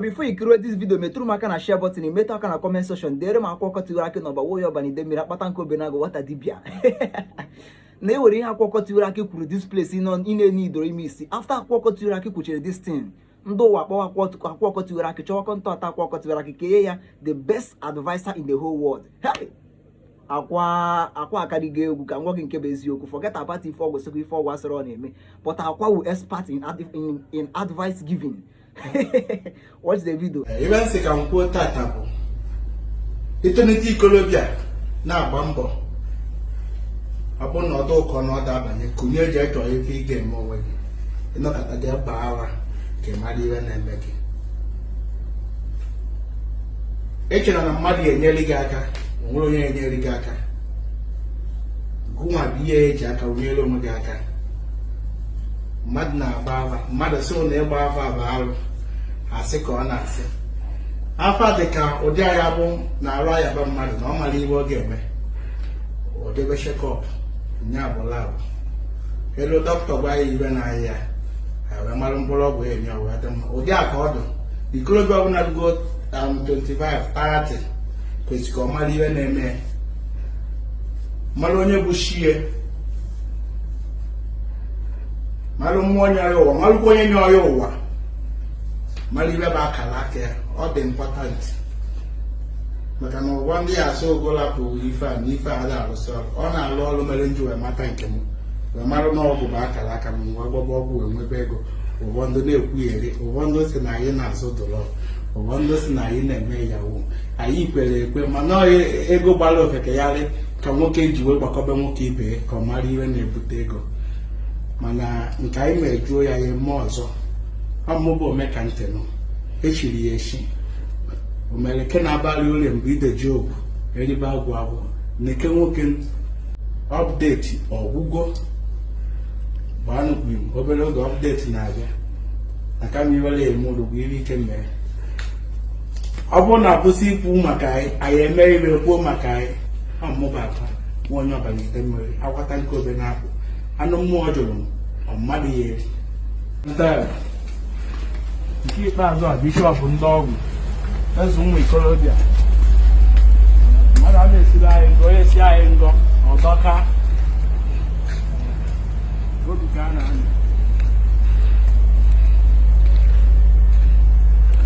before i kiri this video metụrụ m aka na share button metụ aka na comment section dere m akwa ọkụkọ tiwara akị n'ọba nwoye ọbana ide mmiri akpata nkụ obe na-agụ nwata dibia na ewere ihe akwa ọkụkọ tiwara akị kwuru this place ị na-enye idoro ime isi after akwa ọkụkọ tiwara akị kwuchara this thing ndị ụwa kpọwa akwa ọkụkọ tiwara akị chọwa contact akwa ọkụkọ tiwara akị ka e nye ya the best adviser in the whole world hey! akwa akwa akarịgo egwu ka m gwa gị nke bụ eziokwu forget about ife ọgwụ sịkwa ife ọgwụ a sịrị ọ na-eme but akwa wu expert in, in, in advice giving watch the video ive m sị ka m kwuo tata bụ itenete ikolobịa na-agba mbọ ọ bụ na ọ dụ ụkọ na ọ da abanye kunie jee chọọ ife ị ga-eme onwe gị ị nọkata gị gbaa afa ka ị mara ihe na-eme gị echela na mmadụ ga-enyere gị aka o nwere onye ga-enyere gị aka gụnwa bụ ị ya-eji aka gụ nyere onwe gị aka mmadụ na-agba afa mmadụ sị na ịgba afa bụ arụ asị ka ọ na-asị afa dị ka ụdị ọ ya-abụ na arụ ayaba mmadụ na ọ mara ihe ọ ga-eme o jebe checkup nya bụ lab e luo dọkịta gwa ya ive na-aya ya wee mara mkpụrụ ọgwụ enye ọgwụ adị mma ụdị a ka ọ dị ikorobịa ọbụla rugo 25 30 kwesịrị ka ọ mara ihe na-eme mara onye bụ chi ya malụ mmụọ nyọ ya ụwa malụkwa onye nyọ ya ụwa malụ ive bụ akara aka ya ọ dị important maka na ụfọdụ ya asị ogola bụ ife a na ife a da arụsị ọrụ ọ na-alụ ọrụ mere m ji wee mata nke m wee marụ na ọgwụ bụ akara aka m wee gwọba ọgwụ wee nwebe ego ụfọdụ na-ekwuyeri ụfọdụ sị na anyị na-azụ drug ụfọdụ sị na anyị na-eme yahoo anyị kwere ekwe mana ego gbara ofeke yarị ka nwoke ji wee gbakwuba nwoke ibe ya ka ọ mara ihe na-ebute ego mana nke anyị mejuo ya ya eme ọzọ ọ mụ bụ ome ka ntị nụ echiri ya echi omeleke na-abalị ụlọ mgbe ideji obu eribe agwụ agwụ neke nwoke update ọ gwụgo gbanụkwu m obere oge update na-abịa na kama iwere ya eme ụlọ bụ iri ike mee ọ bụrụ na a kwụsị ikwu maka anyị anyị eme ihe e kwuo maka anyị ọ mụ bụ akwa nwa onye ọ banye ite mmiri akpata nkụ obe na-apụ anụ mmụọ jụrụ ọ mmadụ ya eri nke ikpeazụ a bishop ndị ọgwụ eze ụmụ ikorobịa mmadụ a na-esiri anyị ngọ onye si anyị ngọ ọ dọka obi ka a na-anọ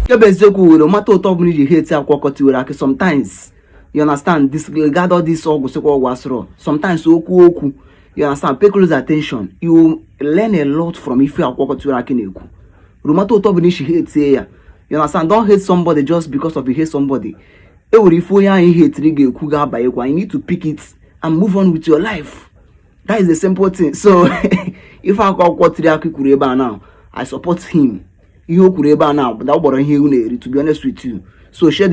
nke bụ eziokwu no matter otu ọbụla i ji hate akwa ọkụkọ tiwara akị sometimes you understand disregard all this ọgwụ sịkwa ọgwụ asụrụ sometimes okwu okwu you understand pay close attention you learn a lot from ife akwa ọkụkọ tiwara akị na-ekwu no matter otu ọbụla i si hate ya you understand don't hate somebody just because of you hate somebody e nwere ife onye anyị hetiri ga-ekwu ga-abanyekwa you need to pick it and move on with your life that is the simple thing so ife akwa ọkụkọ tiwara akị kwuru ebe a now i support him ihe o kwuru ebe a now dabara ihe ewu na-eri to be honest with you so